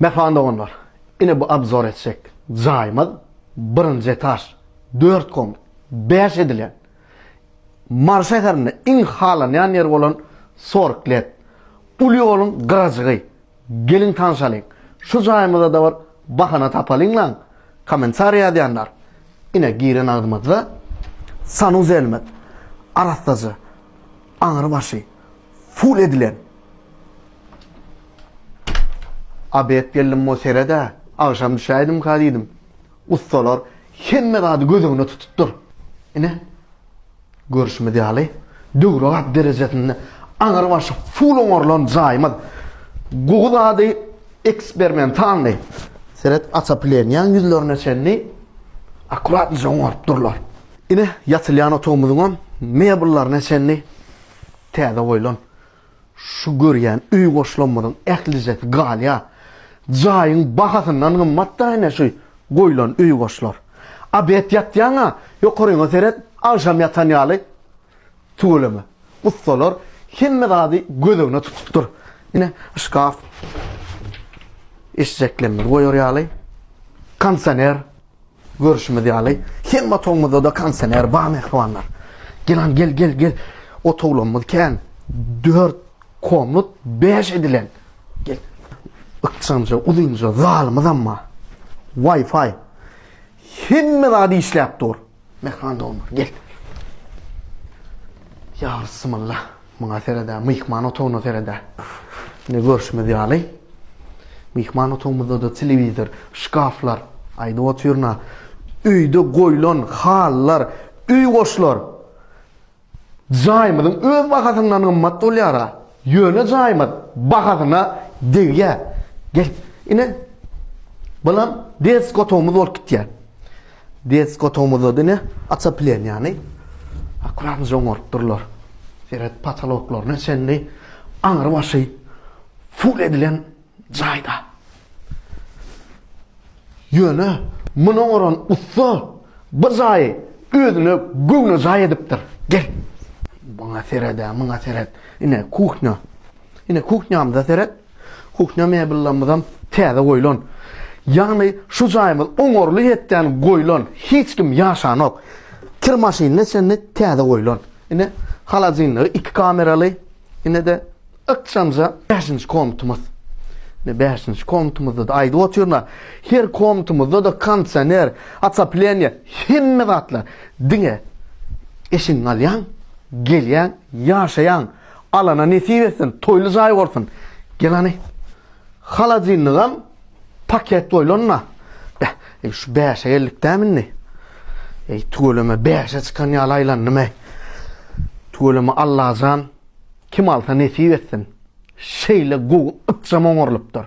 Mähriban doganlar, ine bu obzor etjek jaýymyz birinji etaž, dört komnat, bäş edilen, Mary şäherinde iň halanýan ýeri bolan Sorg Let. Uly ýoluň gyrajygy. Geliň tanşalyň. Şu jaýymyzada bir bahana tapalyňlaň. Kommentariý ýazýanlar. Ine giren agzymyzda sanuzelimiz. Arassaja. Aňry başy ful edilen. A bet geldim mo seredä, agşam düşäýdimka diýdim. Ussalar hemme zady göz öňüne tutupdyr. Ine, görşümiz ýaly, döwrebap derejesinde aňry başy ful oňarylan jaýymyz gowy zady eksperimentalnyý, seret, açapilenýaň ýüzlerine çenli akkuratnyja oňaryp durlar. Ine, ýatylýan otagymyzyňam mebellaryna çenli täze goýlan. Şu görýän öý goşlamymyzyň ählijesi galýar. Jaýyň bahasyndan gymmat-da ine şu goýlan öý goşlar. Abet ýatýaň-a, ýokaryňa seret, agşam ýatan ýaly tüweleme. Ussalar hemme zady göz öňüne tutupdyr. Ine, şkaf, eşjeklerimizi goýar ýaly, kondisioner. Görşümiz ýaly, hemme otagymyzda-da kondisioner bar, mähribanlar. Gelan, gel, gel, gel. Otaglarymyz kän. Dört komnat bäş edilen. Gel. Ykjamja, uzynja zalymyzam bar. Wi-Fi. Hemme zat işläp dur. Mähriban doganlar, gel. Ýa Bismillah. Muňa seredä, myhman otagyna seredä. Indi görşümiz ýaly, myhman otagymyzda-da telewizor, şkaflar, aýdyp otyryn-a, öýde goýlan halylar, öý goşlar jaýymyzyň öz bahasyndan gymmat bolýar-a. Ýöne jaýymyz bahasyna degýär. Gel, ine, bulam desk otagymyz bolup gitýär. Desk otagymyzda diňe otopleniýany akuradyja oňarypdyrlar. Seret, potoloklaryna çenli aňrybaşy full edilen jaýda. Ýöne muny oňaran ussa bir jaýy özüne göwnejaý edipdir. Gel. Muňa seret-ä, muňa seret. Ine kuhňa. Ine kuhňamyza seret. Kuhnya mebellermizem täze goýlan. Ýagny şu jaýymyz oňarly hetden goýlan, hiç kim ýaşanok. Kir maşynyna çenli täze goýlan. Ine, holodilnigi iki kameraly. Ine-de ykjamja bäşinji komnatamyz. Ine bäşinji komnatamyzda-da aýdyp otyryn-a, her komnatamyzda-da kondisioner, otopleniýe, hemme zatlar. Diňe eşigiňi alýaň, gelýäň, ýaşaýaň. Alana nesip etsin, toýly jaý bolsun. Gel hany. Holodilnigem paket goýlanda. Beh, e, şu bäşe geldik dämi indi? Ey, tüweleme bäşe çykan ýaly aýlandym ey. Tüweleme Allajan kim alsa nesip etsin. Şeýle gowy ykjam oňarylypdyr.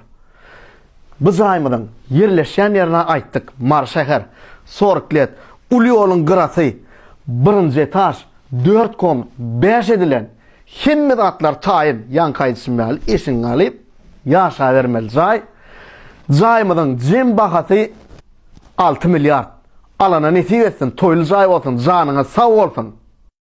Bu jaýymyzyň ýerleşýän ýerini aýtdyk, Mary şäher, Sorklet, uly ýoluň gyrasy, birinji etaž, Dört kom bäş edilen hemme zatlar taýyn, ýaňky aýdyşym ýaly eşigiňi alyp ýaşabermeli jaý. Jaýymyzyň jem bahasy alty milliard. Alana nesip etsin, toýly jaý bolsun, janyňyz sag bolsun.